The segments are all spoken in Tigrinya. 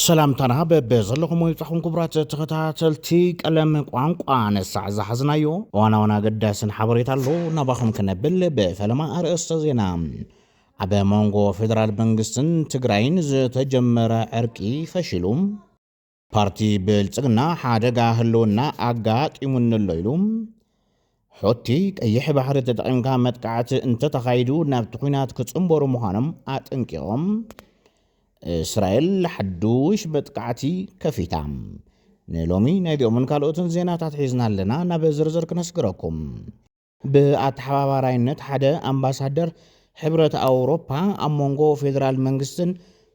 ሰላምታና በበዘለኹም ይብጻሕኩም ክቡራት ተኸታተልቲ ቀለም ቋንቋ ነሳዕ ዝሓዝናዮ እዋናውን ኣገዳስን ሓበሬታ ኣሎ ናባኹም ክነብል ብፈለማ ኣርእስተ ዜና ኣብ መንጎ ፌደራል መንግስትን ትግራይን ዝተጀመረ ዕርቂ ፈሺሉ ፓርቲ ብልጽግና ሓደጋ ህልውና ኣጋጢሙኒ ኣሎ ኢሉ ሑቲ፣ ቀይሕ ባሕሪ ተጠቒምካ መጥቃዕቲ እንተተኻይዱ ናብቲ ኲናት ክጽንበሩ ምዃኖም ኣጠንቂቖም፣ እስራኤል ሓዱሽ መጥቃዕቲ ከፊታ። ንሎሚ ናይዚኦምን ካልኦትን ዜናታት ሒዝና ኣለና፣ ናብ ዝርዝር ክነስግረኩም። ብኣተሓባባራይነት ሓደ ኣምባሳደር ሕብረት ኣውሮፓ ኣብ መንጎ ፌደራል መንግስትን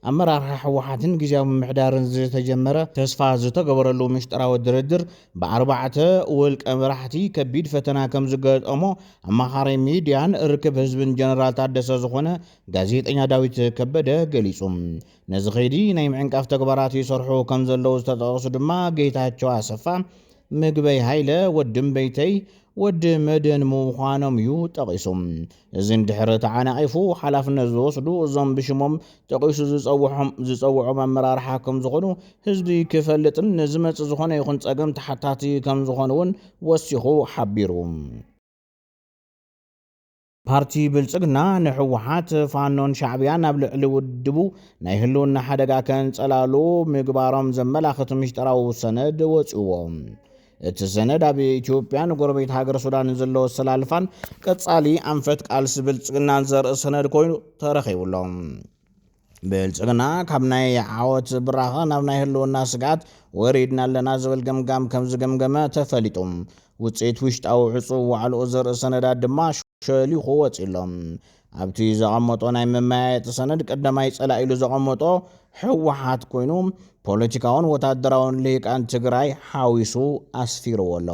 ኣመራርሓ ህወሓትን ግዝያዊ ምምሕዳርን ዝተጀመረ ተስፋ ዝተገበረሉ ምሽጥራዊ ድርድር ብኣርባዕተ ውልቀ መራሕቲ ከቢድ ፈተና ከምዝገጠሞ ኣማኻሪ ሚድያን ርክብ ህዝብን ጀነራል ታደሰ ዝኾነ ጋዜጠኛ ዳዊት ከበደ ገሊፁ። ነዚ ከይዲ ናይ ምዕንቃፍ ተግባራት ይሰርሑ ከምዘለዉ ዝተጠቐሱ ድማ ጌታቸው ኣሰፋ፣ ምግበይ ሃይለ፣ ወዲ እምበይተይ፣ ወዲ መድህን ምዃኖም እዩ ጠቒሱ። እዚ እንድሕር ተዓናቒፉ ሓላፍነት ዝወስዱ እዞም ብሽሞም ጠቒሱ ዝፀውሖም ዝፀውዖም ኣመራርሓ ከምዝኾኑ ህዝቢ ክፈልጥን ንዝመፅእ ዝኾነ ይኹን ፀገም ተሓታቲ ከምዝኾኑ እውን ወሲኹ ሓቢሩ። ፓርቲ ብልፅግና ንሕወሓት፣ ፋኖን ሻዕብያን ኣብ ልዕሊ ውድቡ ናይ ህልውና ሓደጋ ከንፀላሉ ምግባሮም ዘመላኽት ምሽጠራዊ ሰነድ ወፂኡዎ። እቲ ሰነድ ኣብ ኢትዮጵያ ንጎረቤት ሃገር ሱዳንን ዘለዎ ኣሰላልፋን ቀጻሊ ኣንፈት ቃልሲ ብልጽግናን ዘርኢ ሰነድ ኮይኑ ተረኺቡ ኣሎ። ብልጽግና ካብ ናይ ዓወት ብራኸ ናብ ናይ ህልውና ስግኣት ወሪድና ኣለና ዝብል ገምጋም ከም ዝገምገመ ተፈሊጡ። ውጽኢት ውሽጣዊ ዕጹው ዋዕልኡ ዘርኢ ሰነዳት ድማ ሸሊኹ ወጺኡ ኣሎ። ኣብቲ ዘቐመጦ ናይ መመያየጢ ሰነድ ቀዳማይ ጸላኢ ኢሉ ዘቐመጦ ህወሓት ኮይኑ ፖለቲካውን ወታደራውን ልሂቃን ትግራይ ሓዊሱ ኣስፊርዎ ኣሎ።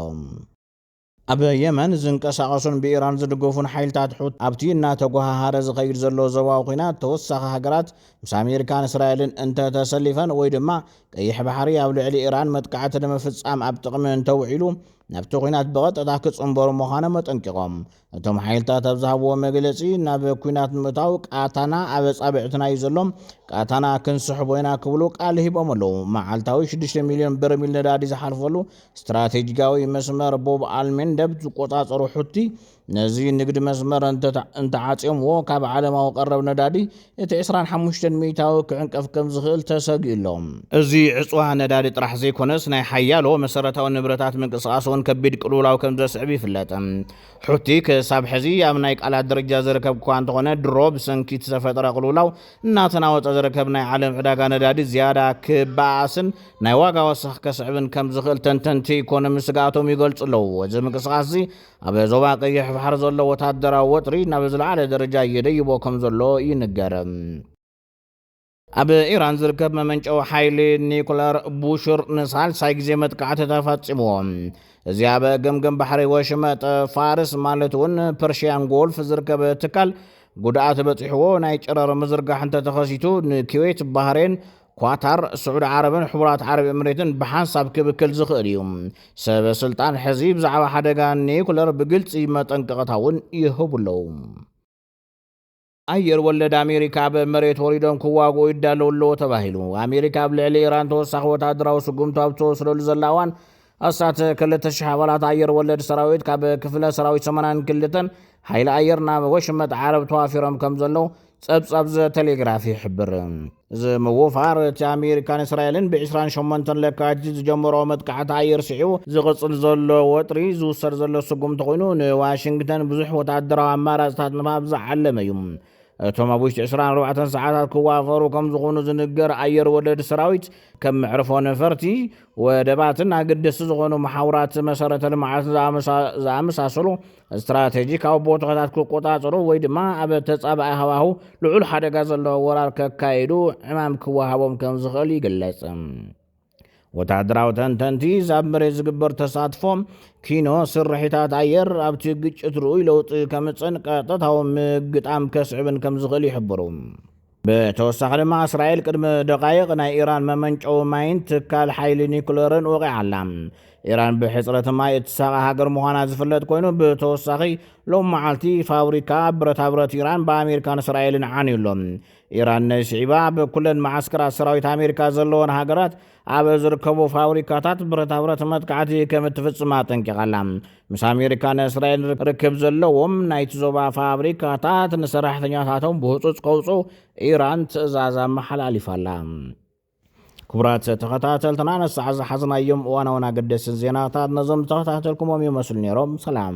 ኣብ የመን ዝንቀሳቐሱን ብኢራን ዝድገፉን ሓይልታት ሑቲ ኣብቲ እናተጎሃሃረ ዝኸይድ ዘሎ ዞባዊ ኲናት ተወሳኺ ሃገራት ምስ ኣሜሪካን እስራኤልን እንተተሰሊፈን ወይ ድማ ቀይሕ ባሕሪ ኣብ ልዕሊ ኢራን መጥቃዕቲ ንምፍጻም ኣብ ጥቕሚ እንተውዒሉ ናብቲ ኲናት ብቐጥታ ክጽንበሩ ምዃኖም ኣጠንቂቖም። እቶም ሓይልታት ኣብ ዝሃብዎ መግለጺ ናብ ኲናት ንምእታው ቃታና ኣብ ኣጻብዕትና እዩ ዘሎ፣ ቃታና ክንስሕቦ ኢና ክብሉ ቃል ሂቦም ኣለዉ። መዓልታዊ ሽዱሽተ ሚልዮን በርሚል ነዳዲ ዝሓልፈሉ ስትራቴጂካዊ መስመር ቦብ ኣልሜንደብ ዝቆጻጸሩ ሑቲ፣ ነዚ ንግድ መስመር እንተዓጽዮምዎ ካብ ዓለማዊ ቀረብ ነዳዲ እቲ ዕስራን ሓሙሽተን ሚእታዊ ክዕንቀፍ ከምዝኽእል ተሰጊኡ'ሎ። እዚ ዕጽዋ ነዳዲ ጥራሕ ዘይኮነስ ናይ ሓያሎ መሰረታዊ ንብረታት ምንቅስቓስ'ውን ከቢድ ቅልውላው ከምዘስዕብ ይፍለጥ። ሑቲ ክሳብ ሕዚ ኣብ ናይ ቃላት ደረጃ ዝርከብ'ኳ እንተኾነ ድሮ ብሰንኪ እቲ ዝተፈጥረ ቅልውላው እናተናወጸ ዝርከብ ናይ ዓለም ዕዳጋ ነዳዲ ዝያዳ ክበኣስን ናይ ዋጋ ወሰኽ ከስዕብን ከምዝኽእል ተንተንቲ ኢኮኖሚ ስግኣቶም ይገልጹ'ለዉ። እዚ ምንቅስቓስ'ዚ ኣብ ዞባ ቀይሕ ባሕሪ ዘሎ ወታደራዊ ወጥሪ ናብ ዝለዓለ ደረጃ የደይቦ ከምዘሎ ይንገር። ኣብ ኢራን ዝርከብ መመንጨዊ ሓይሊ ኒኩለር ቡሽር ንሳልሳይ ግዜ መጥቃዕቲ ተፈጺምዎ። እዚ ኣብ ገምገም ባሕሪ ወሽመጥ ፋርስ ማለት እውን ፐርሽያን ጎልፍ ዝርከብ ትካል ጉድኣት በፂሕዎ ናይ ጨረር ምዝርጋሕ እንተተኸሲቱ ንኪዌት፣ ባህሬን፣ ኳታር፣ ስዑዲ ዓረብን ሕቡራት ዓረብ ኤምሬትን ብሓንሳብ ክብክል ዝኽእል እዩ። ሰበ ስልጣን ሕዚ ብዛዕባ ሓደጋ ኒዩክለር ብግልጺ መጠንቀቕታ እውን ይህቡ ኣለዉ። ኣየር ወለድ ኣሜሪካ ኣብ መሬት ወሪዶም ክዋግኡ ይዳለዉ ኣለዉ ተባሂሉ። ኣሜሪካ ኣብ ልዕሊ ኢራን ተወሳኺ ወተሃደራዊ ስጉምቲ ኣብ እትወስደሉ ዘላ እዋን፣ ኣስታት ክልተ ሽሕ ኣባላት ኣየር ወለድ ሰራዊት ካብ ክፍለ ሰራዊት ሰማንያን ክልተን ሓይሊ ኣየር ናብ ወሽመጥ ዓረብ ተዋፊሮም ከም ዘለዉ ጸብጻብ ዘ ቴሌግራፍ ይሕብር። እዚ ምውፋር እቲ ኣሜሪካን እስራኤልን ብ28 ለካቲት ዝጀመሮ መጥቃዕቲ ኣየር ስዒቡ ዝቕጽል ዘሎ ወጥሪ ዝውሰድ ዘሎ ስጉምቲ ኮይኑ ንዋሽንግተን ብዙሕ ወተሃደራዊ ኣማራጽታት ንምሃብ ዝዓለመ እዩ። እቶም ኣብ ውሽጢ ዕስራን ኣርባዕተን ሰዓታት ክዋፈሩ ከም ዝኾኑ ዝንገር ኣየር ወለድ ሰራዊት ከም መዕርፎ ነፈርቲ፣ ወደባትን ኣገደስቲ ዝኾኑ መሓውራት መሰረተ ልምዓትን ዝኣመሳሰሉ ስትራቴጂካዊ ቦታታት ክቆፃፀሩ ወይ ድማ ኣብ ተፃባኢ ሃዋህው ልዑል ሓደጋ ዘለዎ ወራር ከካይዱ ዕማም ክወሃቦም ከም ዝኽእል ይግለፅ። ወተሃደራዊ ተንተንቲ ኣብ መሬት ዝግበር ተሳትፎ ኪኖ ስርሒታት ኣየር ኣብቲ ግጭት ርኡይ ለውጢ ከምፅእን ቀጥታዊ ምግጣም ከስዕብን ከም ዝኽእል ይሕብሩ። ብተወሳኺ ድማ እስራኤል ቅድሚ ደቓይቕ ናይ ኢራን መመንጨዊ ማይን ትካል ሓይሊ ኒኩለርን ወቒዓ ኣላ። ኢራን ብሕፅረት ማይ እትሳቐ ሃገር ምዃና ዝፍለጥ ኮይኑ ብተወሳኺ ሎም መዓልቲ ፋብሪካ ብረታ ብረት ኢራን ብኣሜሪካን እስራኤልን ዓንዩ ኣሎ። ኢራን ነይስዒባ ኣብ ኩለን መዓስከራት ሰራዊት ኣሜሪካ ዘለወን ሃገራት ኣብ ዝርከቡ ፋብሪካታት ብረታብረት መጥቃዕቲ ከም እትፍጽም ኣጠንቂቓ ኣላ። ምስ ኣሜሪካ ንእስራኤል ርክብ ዘለዎም ናይቲ ዞባ ፋብሪካታት ንሰራሕተኛታቶም ብህጹጽ ከውጽኡ ኢራን ትእዛዝ ኣመሓላሊፋ ኣላ። ክቡራት ተኸታተልትና ነሳዕ ዝሓዝናዮም እዋናውን ኣገደስን ዜናታት ነዞም ዝተኸታተልኩሞም ይመስሉ ነይሮም። ሰላም።